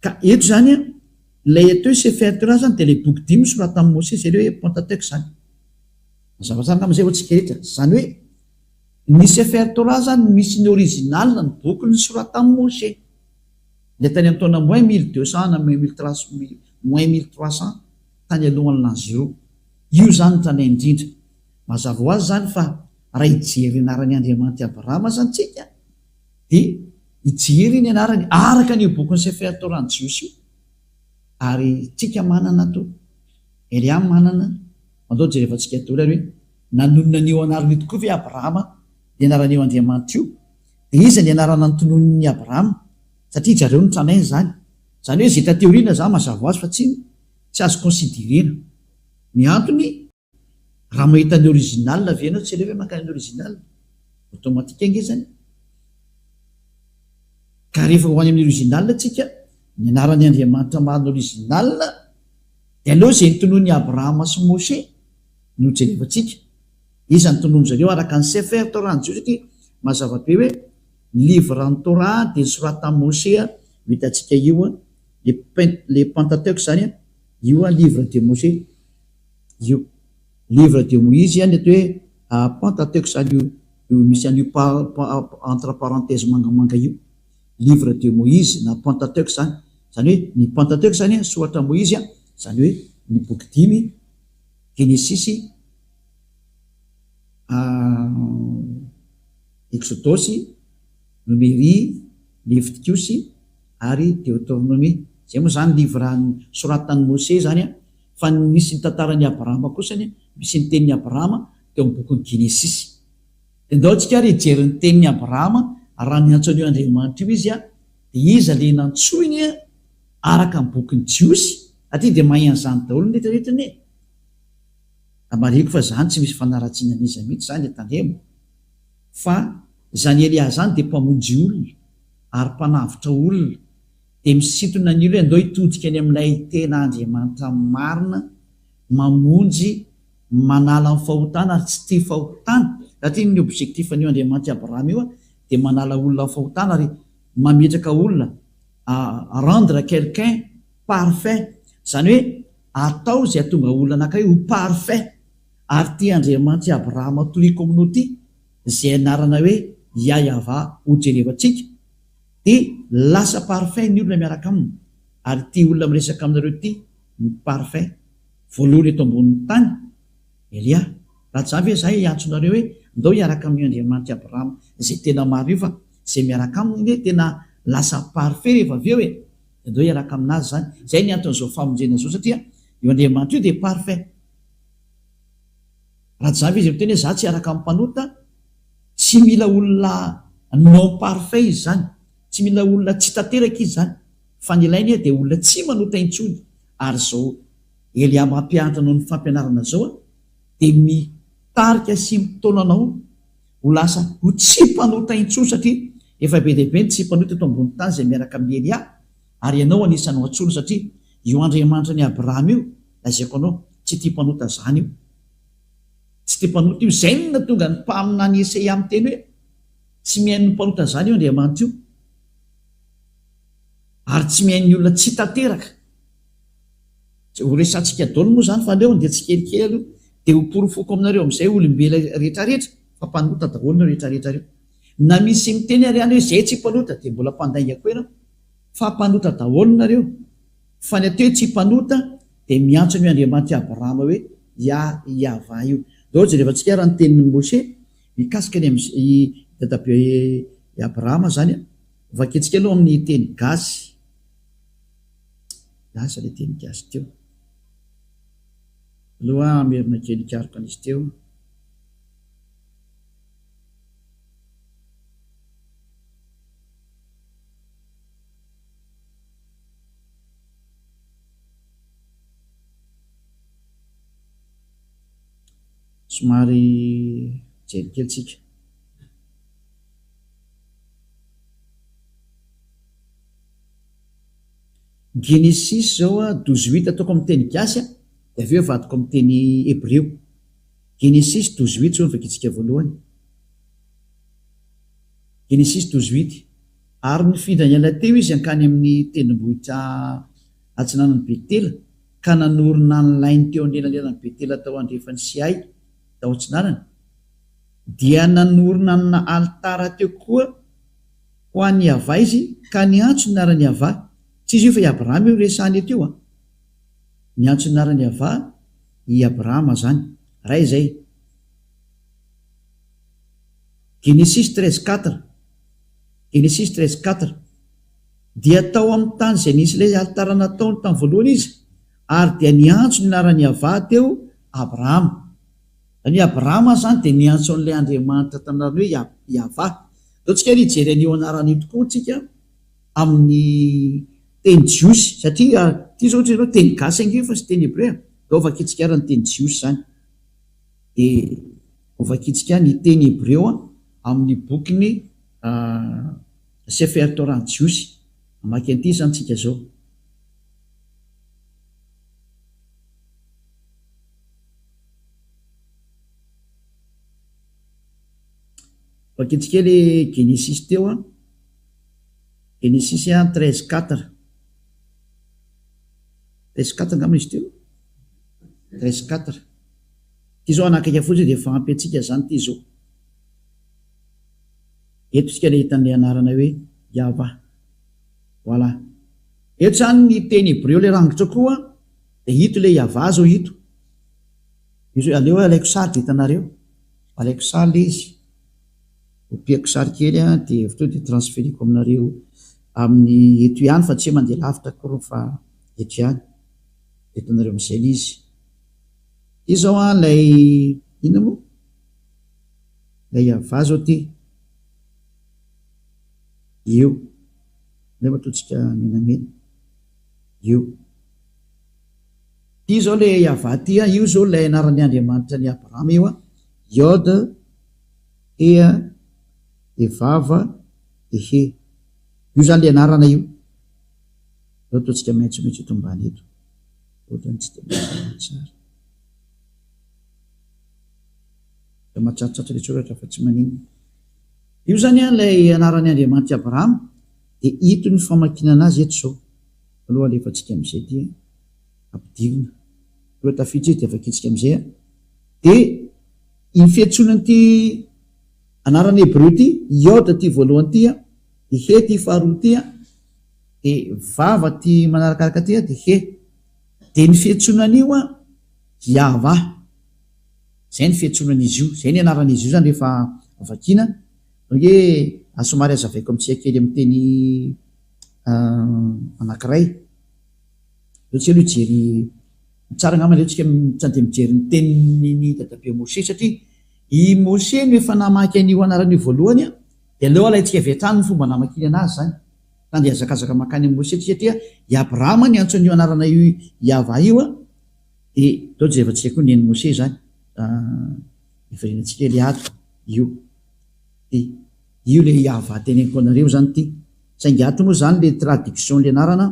Ka eto izany an, ilay eto Sefer Torah izany dia ilay boky dimy soratan'i Mosesy, ilay hoe Pentateuch izany. Mazava tsara angamba izay ho antsika rehetra. Izany hoe, ny Sefer Torah izany no misy ny original, ny boky nosoratan'i Mosesy. Ilay tany amin'ny taona moins mille deux cents na moins mille trois cents, moins mille trois cents, tany alohan'ny l'an zéro. Io izany no tany indrindra. Mazava ho azy izany fa raha hijery ny anaran'i Andriamanitra i Abrahama izany isika, Dia i Jiry ny anarany araka an'io bokin'i Sefer Torah ny Jiosy io. Ary tsika manana to. Eliam manana, mandao jereva tsika doly ary hoe, nanonona an'io anarana io tokoa ve Abrahama, ny anaran'io Andriamanitra io? Dia iza ny anarana notononin'i Abrahama? Satria ijareo no tranainy izany. Izany hoe zeta teoriana za mazava ho azy fa tsy, tsy azo considerena. Ny antony. Raha mahita ny original ve ianao tsy aleo ve makany original? Automatique ange zany e! Ka rehefa ho any amin'ny original tsika, ny anaran'ny Andriamanitra marina original de aleo izay notonoin'i Abrahama sy Moshe no jerevantsika. Iza no tonoin-dry zareo araka ny Sefer Torah ny Jiosy satria mazava be hoe ny livre ny Torah dia nosoratina amin'i Moshe an, io hitantsika io an, le Pent, le Pentateuque zany an, io an livre de Moshe. io livre de moise any eto hoe panta teo k'izany io io misy an'io pa entre parenthèse mangamanga io livre de moise na pentateuque izany izany hoe ny pentateuque izany soratra moizy a izany hoe ny boky dimy genesisy eksodosy nomery levitikosy ary deotornomia izay moa izany livre soratan'i mose izany a Fa ny misy ny tantaran'i Abrahama kosa anie, misy ny tenin'i Abrahama teo amin'ny bokin'ny Genesisy. Dia ndao tsika ary hijery ny tenin'i Abrahama, raha niantso an'io Andriamanitra io izy, dia iza ilay nantsoiny araka ny bokin'ny Jiosy? Aty dia mahay an'izany daholo ny retraretra anie e! Raha marihiko fa izany tsy misy fanaratsiana an'iza mihitsy izany dia tandremo fa izany Elia izany dia mpamonjy olona ary mpanavotra olona, Dia misintona ny olona hoe andao hitodika any amin'ilay tena Andriamanitra marina, mamonjy, manala ny fahotana ary tsy tia fahotana. Raha ity ny objectif-n'io Andriamanitra i Abraham io dia manala olona amin'ny fahotana ary mametraka olona, à rendre quelqu'un parfait, izany hoe atao izay hahatonga olona anankiray ho parfait. Ary ity Andriamanitra i Abraham tohiko aminao ity, izay anarana hoe Iahyavah hojerevantsika, Dia lasa parfait ny olona miaraka aminy ary ity olona miresaka aminareo ity no parfait voalohany eto ambonin'ny tany? Elia, raha zany ve zah hiantso nareo hoe ndao hiaraka amin'io Andriamanitr'i Abraham zay tena maro io fa zay miaraka aminy nge tena lasa parfait rehefa avy eo e, dia ndao hiaraka aminazy zany, zay ny anton'izao famonjena zao satria io Andriamanitra io dia parfait. Rajab izy miteny hoe za tsy hiaraka amin'ny mpanota, tsy mila olona non parfait izy zany, tsy mila olona tsy tanteraka izy zany fa ny ilainy dia olona tsy manota intsony ary zao Elia mampianatra anao ny fampianarana zao a dia mitarika sy mitaona anao ho lasa ho tsy mpanota intsony satria efa be dia be ny tsy mpanota eto ambony tany izay miaraka amin'i Elia ary ianao anisan'ny ho antsoina satria io Andriamanitra an'i Abraham io lazaiko anao tsy tia mpanota zany io Tsy dia mpanota io. Izay no nahatonga ny mpaminany Iesaia miteny hoe, Tsy mihaino ny mpanota izany io Andriamanitra io, ary tsy mihaino ny olona tsy tanteraka. Izay horesahantsika daholo moa izany fa aleony dia tsikelikely aloha, dia hoporofoko aminareo amin'izay olombela rehetrarehetra fa mpanota daholo ireo rehetrarehetra ireo. Na misy miteny ary ihany hoe izahay tsy mpanota, dia mbola mpandainga koa ianao, fa mpanota daholo nareo, fa ny atao hoe tsy mpanota Dia miantso an'io Andriamanitr'i Abrahama hoe Yah, Yavah, io. Dia ohatra, jerevantsika ary ny tenin'i Mosè mikasika ny amin'i dadabe i Abrahama izany. Vakiantsika aloha amin'ny teny gasy. Lasa ilay teny gasy teo. Aleo aho hamerina kely hikaroka an'izy teo. Somary hijery kely tsika. Genesis zao a douze huit ataoko amin'ny teny gasy a, de avy eo avadiko amin'ny teny hebreo. Genesis douze huit zao no vakitsika voalohany, Genesis douze huit. Ary nifindra niala teo izy hankany amin'ny tendrombohitra atsinanan'i Betela, ka nanorina ny lainy teo anelanelan'i Betela tao andrefany sy Ay tao atsinanany, dia nanorina amina alitara teo koa ho an'i Iavah izy, ka niantso ny anaran'i Iavah, tsy izy io fa i Abrahama io resahana eto io an, niantso ny anaran'i Iavah i Abrahama zany, raha izay. Genesis treize quatre. Genesis treize quatre, Dia tao amin'ny tany izay nisy ilay alitara nataony tamin'ny voalohany izy, ary dia niantso ny anaran'i Yavah teo, Abrahama. Izany hoe Abrahama izany dia niantso an'ilay Andriamanitra tamin'ny anarany hoe Yah, Yavah. Izao tsika ary hijery an'io anarana io tokoa tsika amin'ny teny jiosy, satria ity izao ohatry ny hoe teny gasy ange fa tsy teny hebrea. Izao vakintsika ary ny teny jiosy izany. Dia hovakintsika ny teny hebreo amin'ny bokin'i Sefer Torah-n'ny Jiosy. Hamaky an'ity izany isika izao. Vakintsika ilay Genesisy teo, Genesisy treize quatre. Treize quatre angamba izy teo? Treize quatre. Ity izao hanakaiky fotsiny dia efa ampy antsika izany ity izao. Eto isika ilay hitan'ilay anarana hoe Yavah. Voilà. Eto izany ny teny hebreo ilay rangitra koa dia ito ilay Yavah izao ito. Izy aleo alaiko sary dia hitanareo. Alaiko sary ilay izy. Opiako sary kely an dia avy teo dia transferiko aminareo amin'ny eto ihany fa tsy hoe mandeha lavitra akory fa eto ihany. Dia hitanareo amin'izay ilay izy. Ity zao an ilay inona moa? Ilay Yavah zao ity. Io. Ilay matoantsika menamena. Io. Ity zao ilay Yavah ity an, io zao ilay anaran'ny Andriamanitra an'i Abrahama io an. Yod, He an, de Vav, de He. Io zany ilay anarana io. Ilay matoantsika maitsomaitso eto ambany eto. Ohatran'ny tsy dia mazava ny sary. Dia matsatsatsy ilay soratra fa tsy maninona. Io izany ilay anaran'ny Andriamanitra i Abrahama, dia hito ny famakinana azy eto izao. Aloha alefantsika amin'izay dia ampidirina. Aloha tafiditra izy dia vakintsika amin'izay. Dia iny fiantsoana an'ity anarana hebreo ity, Yod ity voalohany ity, dia He ity faharoa ity. Dia vava aty manarakaraka aty dia he. Dia ny fiantsonan'io an, Yavah. Izay ny fiantsonan'izy io. Izay ny anaran'izy io izany rehefa vakiana. Izany hoe aza somary hazavaiko amintsika kely amin'ny teny anankiray. Aleo tsika aloha hijery, ny tsara angamba aleo tsika mijanona dia mijery ny tenin'i dadabe Moshe satria i Moshe no efa namaky an'io anarana io voalohany an, dia aleo alaintsika avy hatrany ny fomba namakiany anazy izany. Ka ndeha hazakazaka mankany amin'i Mosesy satria i Abrahama ny antson'io anarana i Yavah io a. Dia toa jerevantsika koa ny an'i Mosesy izany. Hiverenantsika ilay ato io. Dia io ilay Yavah teneniko anareo izany ity. Saingy ato moa izany ilay traduction-ilay anarana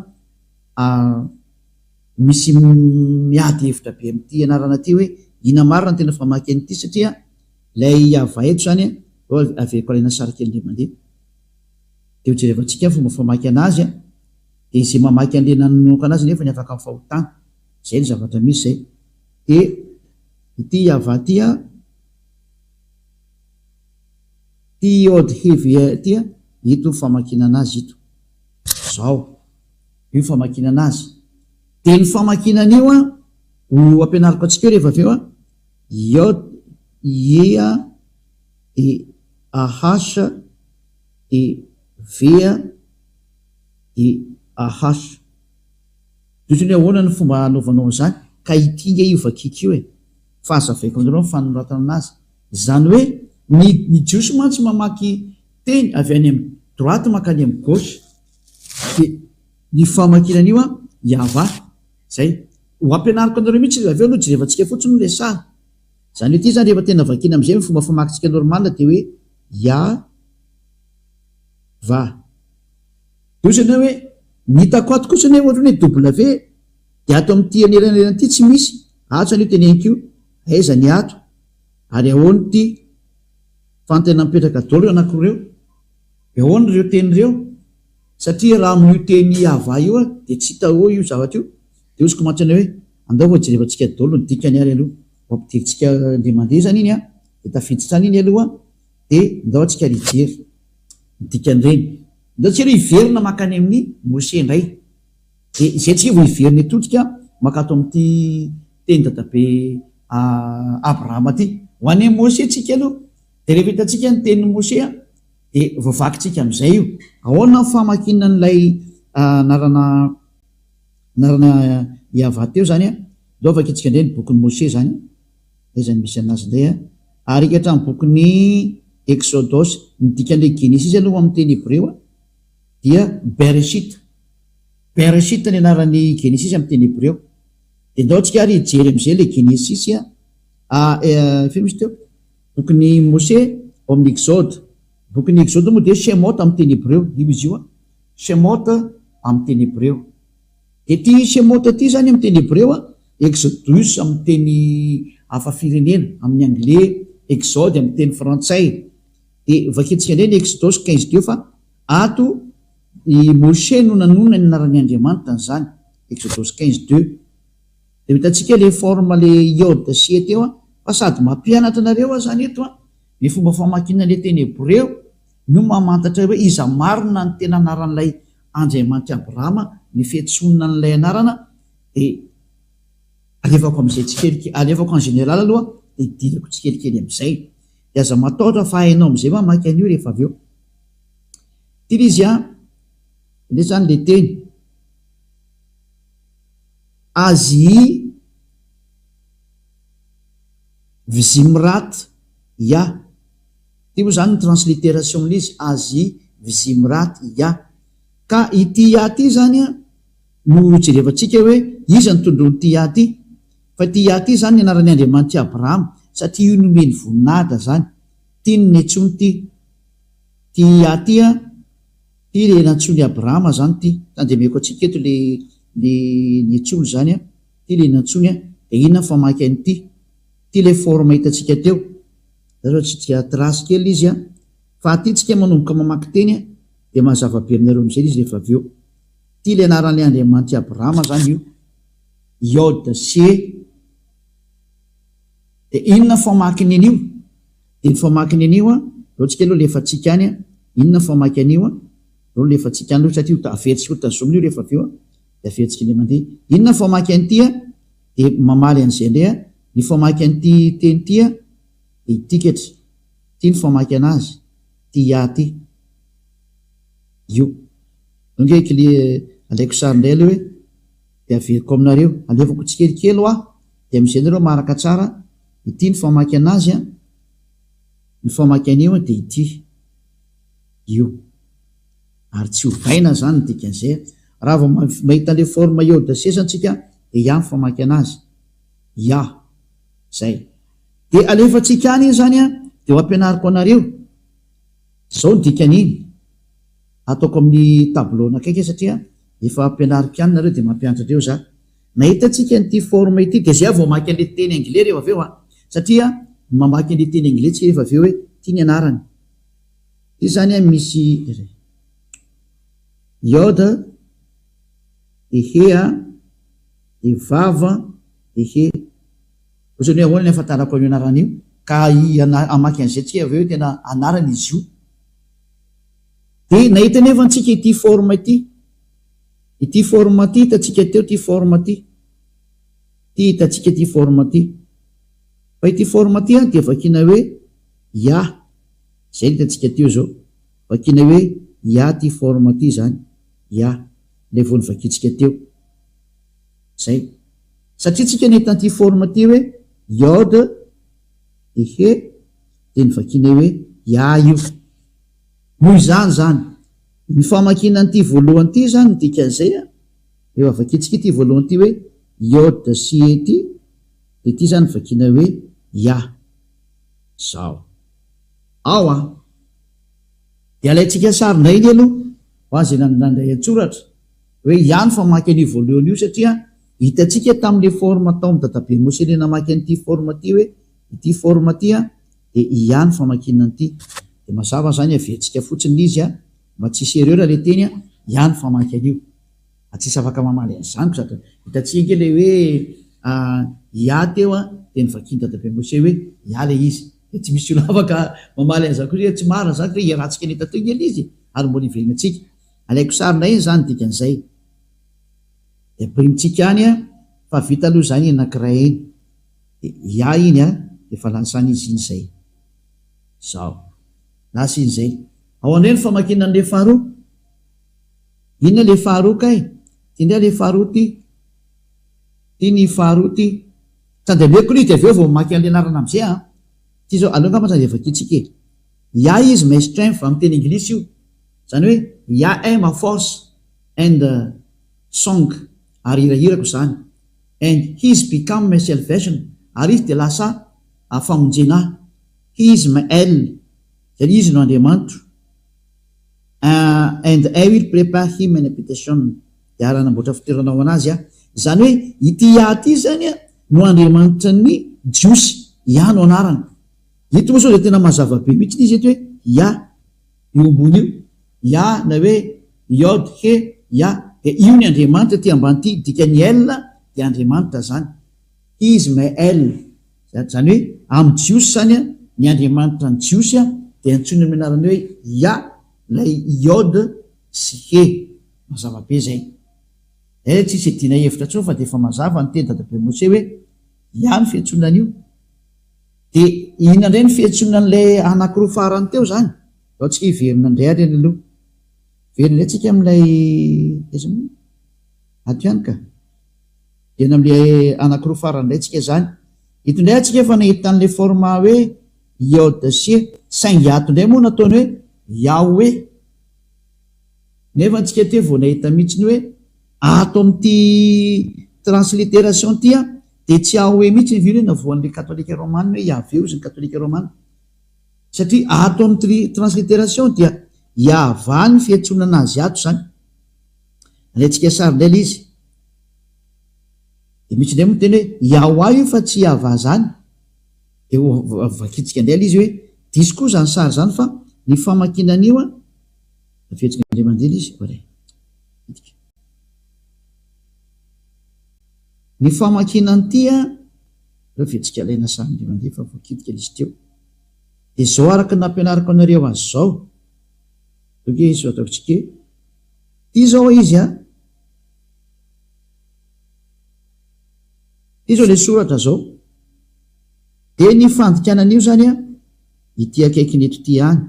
misy miady hevitra be amin'ity anarana ity hoe inona marina no tena famaky an'ity satria ilay Yavah eto izany a, aleveko alaina sary kely indray mandeha. Dia hojerevantsika ny fomba famaky anazy an! Dia izay mamaky an'ilay nanononoko anazy nefany afaka amin'ny fahotana. Izay no zavatra misy izay. Dia ity Yavah ity an, ity Yod He Veh ity an, ito ny famakiana anazy ito. Izao. Io ny famakiana anazy. Dia ny famakiana an'io an, ho ampianariko antsika eo rehefa avy eo an, Yod He an, DAH, DV, DAH. Tohizo ny ahoana ny fomba hanaovanao an'izany ka ity nge io vakiky io e! fa hazavaiko aminareo ny fanoratana anazy, izany hoe ny ny jiosy mantsy mamaky teny avy any amin'ny droite mankany amin'ny gauche dia ny famakiana an'io an Yavah, izay ho ampianariko anareo mihitsy avy eo aloha jerevantsika fotsiny ilay sary. Izany hoe ity izany rehefa tena vakiana amin'izay ny fomba famakintsika normal dia hoe ya va. Dia hoy ianao hoe ny hitako ato kosa anefa ohatran'ny hoe W dia ato amin'ity anelanelana ity tsy misy, ato izany io teneniko io, aiza ny ato ary ahoana ity fanontaniana mipetraka daholo ireo anankiroa ireo? Dia ahoana ireo teny ireo? Satria raha amin'io teny Iavah io aho dia tsy hita hoe io zavatra io, dia hoziko mantsy anao hoe, Andao fa hojerevantsika daholo ny dikany ary aloha, ho ampidirintsika indray mandeha izany iny an, dia tafiditra any iny aloha an, dia ndao antsika ary hijery ny dikan'ireny. Ndao tsika aloha hiverina mankany amin'i Mose indray, dia izay tsika vao hiverina eto tsika mankato amin'ity teny dadabe Abrahama ity. Ho any amin'i Mose tsika aloha, dia rehefa hitantsika ny tenin'i Mose an, Dia voavakintsika amin'izay io. Ahoana ny famakiana an'ilay anarana anarana Yavah teo izany an? Aleo vakintsika indray ny bokin'i Moshe izany, aiza no misy an'azy indray an? Ary hatramin'ny bokin'i Exodosy, ny dikan'ilay Genesisy aloha amin'ny teny hebreo dia Bereshit. Bereshit ny anaran'ny Genesisy amin'ny teny hebreo. Dia ndao tsika ary hijery amin'izay ilay Genesisy a, a, e, firy misy teo? Bokin'i Mosè ao amin'ny Exode. Bokin'ny Exode moa dia Shemot amin'ny teny hebreo, io izy io an, Shemot amin'ny teny hebreo. Dia ity Shemot ity izany amin'ny teny hebreo an, Exodus amin'ny teny hafa firenena, amin'ny anglais, Exode amin'ny teny frantsay. Dia vakintsika indray ny Exodus quinze deux fa ato i Mosè no nanonona ny anaran'ny Andriamanitra an'izany, Exodus quinze deux. Dia hitantsika le forme le iode sy e teo an! Fa sady mampianatra anareo aho zany eto an! Ny fomba famakiana an'le teny hebreo no mamantatra hoe iza marina ny tena anaran'ilay Andriamanitry Abrahama, ny fiantsoana an'ilay anarana dia alefako amin'izay tsikelikely, alefako en général aloha dia idirako tsikelikely amin'izay. Dia aza matahotra fa hainao amin'izay mamaky an'io rehefa avy eo. Ity le izy an! Indray zany le teny. Azy i Vizimrat ia. Ity moa izany ny transliteration-n'izy, Azy i Vizimrat ia. Ka ity ia ity izany no hojerevantsika hoe iza ny tondroin'ity ia ity. Fa ity ia ity izany ny anaran'i Andriamanitra i Abrahama, satria io nomeny voninahitra izany. Ity no niantsoany ity, ity ia ity an. Ty le nantsoin' i Abrahama zany ty, tandemeko antsika eto le le nietsolo zany an, ty le nantsoiny an, de inona ny famaky an' ity? Ty le forme hitantsika teo, za zao tsy tia trace kely izy an, fa aty tsika manomboka mamaky teny an, de mazava be aminareo amizay le izy rehefa avy eo. Ty le anaran' le Andriamanitr' i Abrahama zany io, Iod, She. De inona ny famaky ny anio? De ny famaky ny anio an, zao tsika aloha lefa tsika any an, inona ny famaky anio an, zao ny lefa tsika any aloha satria ho averitsika ho tazomina io refa avy eo an, de averitsika indray mande, inona ny famaky an'ity an, de mamaly an'izay indray an, ny famaky an'ity teny ity an, de ity ketry, ity ny famaky anazy, ity IA ity, io, zao nge kly alaiko sary indray aloha e. dia averiko aminareo, alevako tsikelikely hoa, dia amin'izay nareo maharaka tsara ity ny famaky anazy an, ny famaky an'io dia ity, io, ary tsy ovaina izany ny dikan'izay, raha vao mahita an'ilay forme iodasesa antsika dia iah ny famaky anazy, iah, zay, dia alefantsika any iny izany an, dia ho ampianariko anareo, zao ny dikan'iny. Ataoko amin'ny tableau nakaiky satria efa ampianariko ihany nareo dia mampianatra andreo za. Nahita tsika an'ity forme ity dia zay aho vao mamaky an'le teny anglais rehefa avy eo an! Satria ny mamaky an'le teny anglais tsika rehefa avy eo hoe ty ny anarany. Ty zany an misy iry. Iod an, dia he an, dia vav an, dia he. Ohatrany hoe ahoana ny ahafantarako an'io anarana io ka hamaky an'izay tsika avy eo hoe tena anarana izy io. Dia nahita anie va ntsika ity forme ity? Ity forme ity hitantsika teo ity forme ity. Ity hitantsika ity forme ity. Fa ity forme ity an dia vakiana hoe ya. Izay ny hitantsika teo izao. Vakiana hoe ya ity forme ity izany. Ya. Ilay vao novakiantsika teo. Izay. Satria tsika nahita an'ity forme ity hoe iode, ehe, dia novakianay hoe ya io. Noho izany izany, ny famakiana an'ity voalohany ity izany, ny dikan'izay, rehefa vakintsika ity voalohany ity hoe Yod sy He ity, dia ity izany vakiana hoe Yah. Izao. Ao an! Dia alaintsika sary indray anie aloha, ho azy nandray an-tsoratra, hoe Yah no famaky an'io voalohany io, satria hitantsika tamin'ilay forme tao amin'ny dadabe Mosely namaky an'ity forme ity hoe ity forme ity an, Dia ia ny famakiana an'ity? Dia mazava izany hevetsika fotsiny lzy a! Mba tsisy erreur le teny a! Ia ny famaky an'io? A tsisy afaka mamaly an'izany ko zato! Hitantsika ange le hoe a ia teo a! Dia novakian'i dadabe Mosey hoe ia le izy! Dia tsy misy olona afaka mamaly an'izany koa hoe tsy marina izany satria iarahantsika nita teo nge le izy ary mbola hiverina antsika! Alaiko sary ndray izany ny dikan'izay! Dia brintsika any a! Fa vita aloha izany eny anankiray eny! Yah iny an! Efa lasa an'izy iny izay. Izao. Lasa iny izay. Ao indray ny famakiana an'ilay faharoa. Inona ilay faharoa kay? Ity indray ilay faharoa ity. Ity ny faharoa ity. Tsy handeha ameko aloha izy dia avy eo vao mamaky an'ilay anarana amin'izay an! Ity izao. Aleo angamba izany dia vakiantsika e. Yah is my strength, amin'ny teny anglisy io. Izany hoe, Yah est ma force and song, ary hirahirako izany. And His become my salvation, ary Izy dia lasa famonjena ahy. He is my El, izany hoe Izy no Andriamanitro. And I will prepare Him an habitation, dia ara-hanamboatra fitoerana ho an'Azy aho. Izany hoe ity Yah ity izany no Andriamanitran'ny Jiosy, Yah no anarany. Eto moa izao dia tena mazava be mihitsy izy eto hoe Yah. io ambony io, Ya na hoe Yod He Yah, dia io ny Andriamanitra ety ambany ity, dikan'ny El dia Andriamanitra zany, His me El, zany hoe amin'ny Jiosy zany an, ny Andriamanitra ny Jiosy an, dia antsoiny amin'ny anarany hoe Ya ilay Yod sy He, mazava be zay. Zay tsisy iadiana hevitra intsony fa dia efa mazava niteny dadabe Moshe hoe Ya ny fiantsoana an'io. Dia inona indray ny fiantsoana an'ilay anankiroa farany teo izany? Izao tsika hiverina indray ary any aloha. Hiverina indray tsika amin'ilay, aiza moa? Ato ihany ka. Hiverina amin'ilay anankiroa farany indray tsika izany. Eto indray atsika efa nahita an'ilay format hoe iode sy e, saingy ato indray moa nataony hoe Yahweh. Nefa antsika aty vao nahita mihitsy ny hoe ato amin'ity transliteration ity an, dia tsy ahoe mihitsy ny vy hoe navoan'ilay katolika romana hoe Yaveh hozy ny katolika romana. Satria ato amin'ny tri transliteration dia Yahvah ny fiantsonana azy ato izany. Alaintsika sary indray ilay izy. Dia misy indray moa miteny hoe Yahwah io fa tsy Yahvah izany. Dia ho vakintsika indray ilay izy hoe diso koa izany sary izany fa ny famakiana an'io an, Tafiditra indray mandeha ilay izy ko re. Midika. Ny famakiana an'ity an, ireo fihetsika alaina sary indray mandeha fa voakitika ilay izy teo. Dia izao araka ny nampianariko anareo azy izao. Ok, izao ataoko tsike. Ity izao izy an. Ity izao ilay soratra izao. Dia ny fandikana an'io izany an, ity akaikin'eto ity ihany.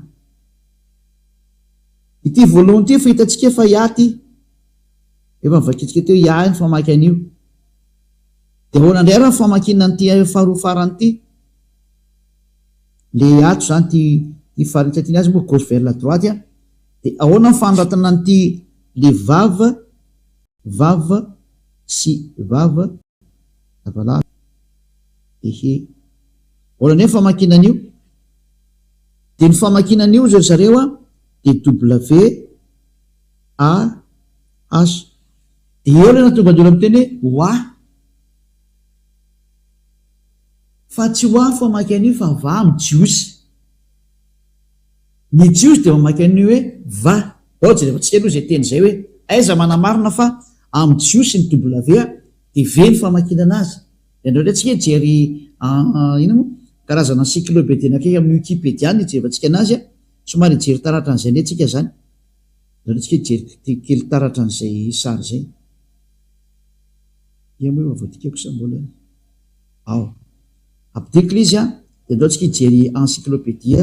Ity voalohany ity efa hitantsika fa IA ity. Efa novakintsika teo IA ny famaky an'io. Dia ahoana indray ary ny famakiana an'ity faharoa farany ity? Ilay ato izany ity ity farany tsy tiany azy moa gauche vers la droite a. Dia ahoana ny fanoratana an'ity le vav vav sy vav lavalava? Ehe. Ahoana indray ny famakiana an'io? Dia ny famakiana an'io ry zareo a, DWAH, dia eo ilay natongadora miteny hoe wah. Fa tsy wah ny famaky an'io fa vah amin'ny jiosy. Ny jiosy dia mamaky an'io hoe vah. Ao jereo tsika aloha izay teny izay hoe aiza manamarina fa amin'ny jiosy ny W dia V ny famakiana anazy. Dia indraindray tsika hijery inona moa? karazana encyclobedie nakaiky amin'ny wikipedia ny hijerevantsika anazy an! somary hijery taratra an'izay anie tsika izany, indraindray tsika hijery kely taratra an'izay sary izay. Ia moa efa voadikako sa mbola? Ao. Ampidiko ilay izy an! dia indao tsika hijery encyclobedie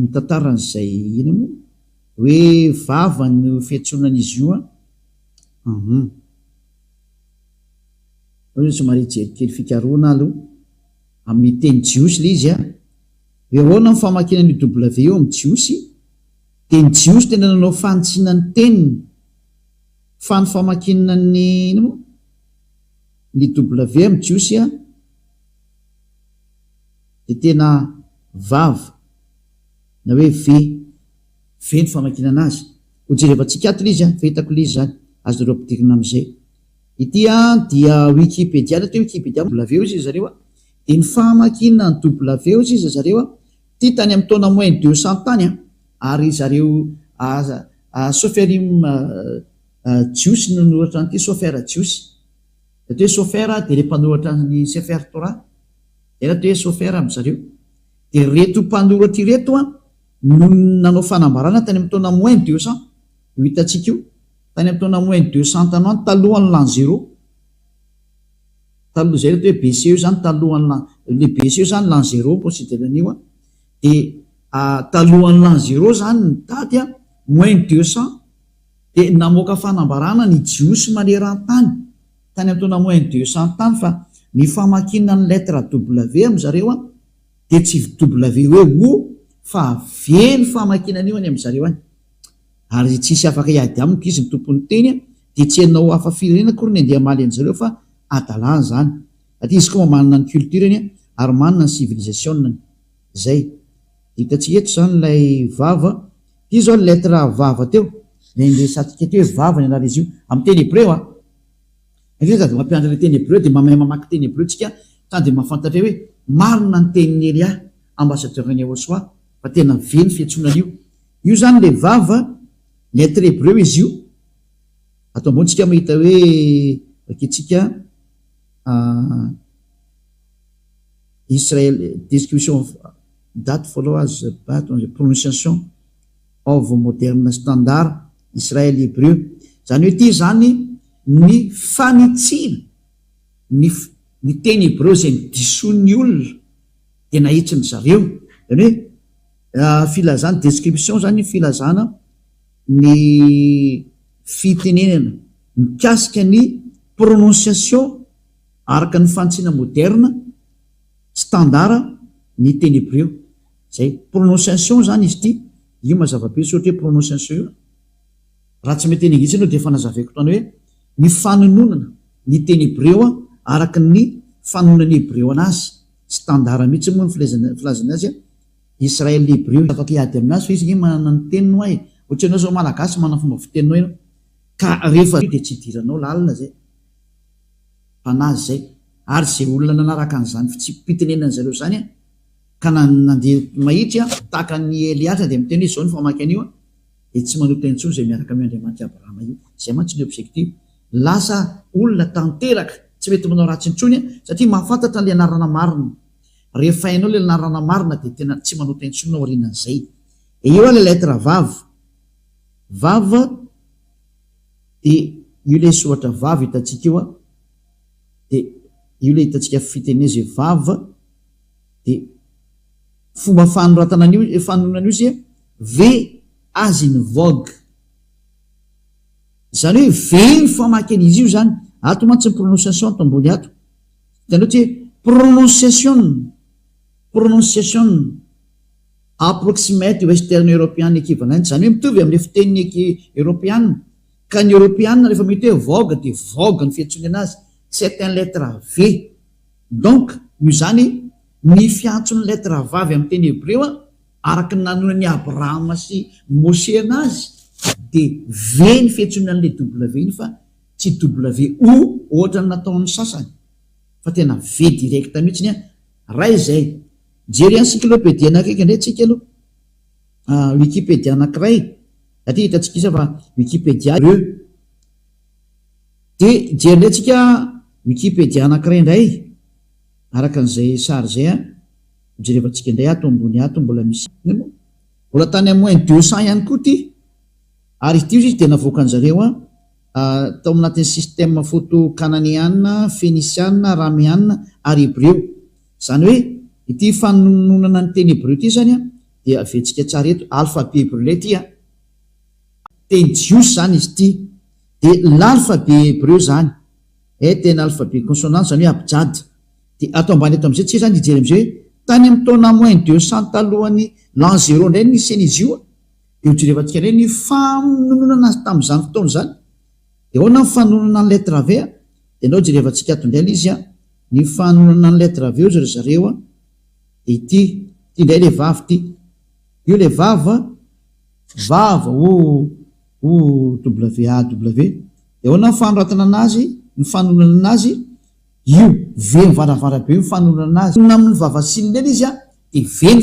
mitantara an'izay inona moa? hoe vava no fiantsoana an'izy io an! Aleo izy somary hijery kely fikarohana aloha amin'ny teny jiosy ilay izy an! Dia ahoana ny famakiana an'io W io amin'ny jiosy? Dia ny jiosy tena nanao fanitsiana ny teniny fa ny famakiana ny inona moa? Ny W amin'ny jiosy an! Dia tena vav na hoe ve. Ve ny famakinana azy? Ho jerevantsika ato ilay izy an! Fa hitako ilay izy izany. Azonareo ampidirina amin'izay. Ity dia Wikipedia, na teo Wikipedia moa W hozy ry zareo an! Dia ny famakinana ny W hozy izy ry zareo an! Ity tany amin'ny taona moins deux cent tany an! Ary ry zareo Soferim Jiosy no noratra an'ity, Sofer Jiosy. Raha toa hoe Sofer dia ilay mpanoratra ny Sefer Torah. Izay raha toa hoe Sofer ry zareo. Dia ireto mpanoratra ireto an! Noho ny nanao fanambarana tany amin'ny taona moins deux cents, io hitantsika io, tany amin'ny taona moins deux cents tany ho any, talohan'ny l'an zéro, taloha, izay no atao hoe BCE izany, talohan'ny l'an, ilay BCE izany l'an zéro no consider-ny an'io an, dia talohan'ny l'an zéro izany ny daty, moins deux cents, dia namoaka fanambarana ny Jiosy maneran-tany tany amin'ny taona moins deux cents tany fa ny famakiana ny lettre W amin-dry zareo an, Dia tsy ww fa avelo famakiana anio any amin zareo any. Ary tsisy afaka hiady amiko izy ny tompony teny dia tsy ianao hafa firenena akory ny andeha hamaly anzareo fa adalany zany. Satria izy koa manana ny culture-ny an ary manana ny civilisation-ny. Zay. Dia hitantsika eto zany ilay vava. Ity zao ny lettre vava teo. Ilay resatsika teo hoe vava ny anar'izy io. Amin'ny teny hebreo an. Rehefa avy mampianatra ilay teny hebreo dia mahay mamaky teny hebreo tsika tany dia mahafantatra hoe marina ny tenin'i Elia ambassadeur an'i Yahoshuah fa tena ve ny fiantsoana an'io io zany ilay vava lettre hebreo izy io ato ambony tsika mahita hoe raketsika ah, Israel description of that followers but on the pronunciation Baovao Moderna Standard, Israely Hebreo, izany hoe ity izany ny fanitsiana ny ny teny hebreo izay nidisoan'ny olona dia nahitsiny zareo, izany hoe filazana, description, izany filazana ny fitenenana mikasika ny prononciation araka ny fanitsiana moderna, standard, ny teny hebreo. Zay prononciation zany izy ity, io mazava be tsy ohatra hoe prononciation io. Raha tsy mety an'Inglisy aloha dia efa nazavaiko tany hoe ny fanononana ny teny hebreo araka ny fanononan'ny hebreo anazy, standard mihitsy moa ny filezana filazana azy Israel hebreo, tsy afaka hiady aminazy fa izy nge manana ny teniny hoa e, ohatra ianao zao malagasy manana fomba fiteninao ianao ka rehefa dia tsy hidiranao lalina zay, mpanazy zay ary ze olona nanaraka an'izany fitsipipitenenan'zareo zany an! Ka na ny nandeha mahitsy an, tahaka an'i Eliatra dia miteny hoe izao ny famaky an'io an, dia tsy manota intsony izay miaraka amin'io Andriamanitr'i Abrahama io. Izay mantsy ny objectif. Lasa olona tanteraka tsy mety manao ratsy intsony an, satria mahafantatra an'ilay anarana marina. Rehefa hainao ilay anarana marina dia tena tsy manota intsony aorianan'izay. Dia eo ilay lettre vav. Vav dia io ilay soratra vav hitantsika io an, dia io ilay hitantsika fitenenana izay vav. dia fomba fanoratana an'io fanoronana io sia V as in vogue. Izany hoe V ny famaky an'izy io izany. Ato mantsy ny prononciation ato ambony ato. Hitanareo ity hoe pronunciation, pronunciation, approximate western european equivalent, izany hoe mitovy amin'ilay fiteniny eropeana. Ka ny eropeana rehefa mahita hoe vogue dia vogue ny fiantsoany anazy, c'est un lettre V. Donc, noho izany, ny fiantson'ny lettre vavy amin'ny teny hebreo, araka ny nanonan'i Abrahama sy Moshe anazy, dia V ny fiantsoana an'ilay W iny fa tsy WO ohatra ny nataon'ny sasany, fa tena V direct mihitsiny an! Raha izay, jery encyclopédie nakaiky indray tsika aloha, Wikipedia anankiray, satria hitantsika isa fa Wikipedia, E. Dia jerinay tsika Wikipedia anankiray indray araka an'izay sary izay an! Jerevantsika indray ato ambony ato mbola misy an! Mbola tany amin'ny moins deux cents ihany koa ity ary ity hozy dia navoakan'ny zareo an! tao anatin'ny système photo kananeana, fenisiana, arameana ary hebreo. Izany hoe ity fanononana ny teny hebreo ity izany an! dia aventsika tsara eto, alphabet hebreu ilay ity an! Teny jiosy izany izy ity. Dia l'alphabet hebreu izany. Eh tena alphabet consonant izany hoe abjad. Dia ato ambany ato amin'izay tsy hay izany hijery amin'izay hoe tany amin'ny taona moins deux cents talohan'ny l'an zéro indray ny nisian'izy io an. Dia ho jerevantsika indray ny famononana azy tamin'izany fotoana izany. Dia ahoana ny fanononana ny lettre ave an? Dia ndao jerevantsika ato indray ilay izy an. Ny fanononana ny lettre ave hozy ry zareo an. Dia ity, ity indray ilay vavy ity. Io ilay vavy an. Vava o o WAW de ahoana ny fanoratana azy ny fanononana azy io, ve ny varavarabe no fanononana azy? Tokony amin'ny vava sy ny lela izy a de ve ny.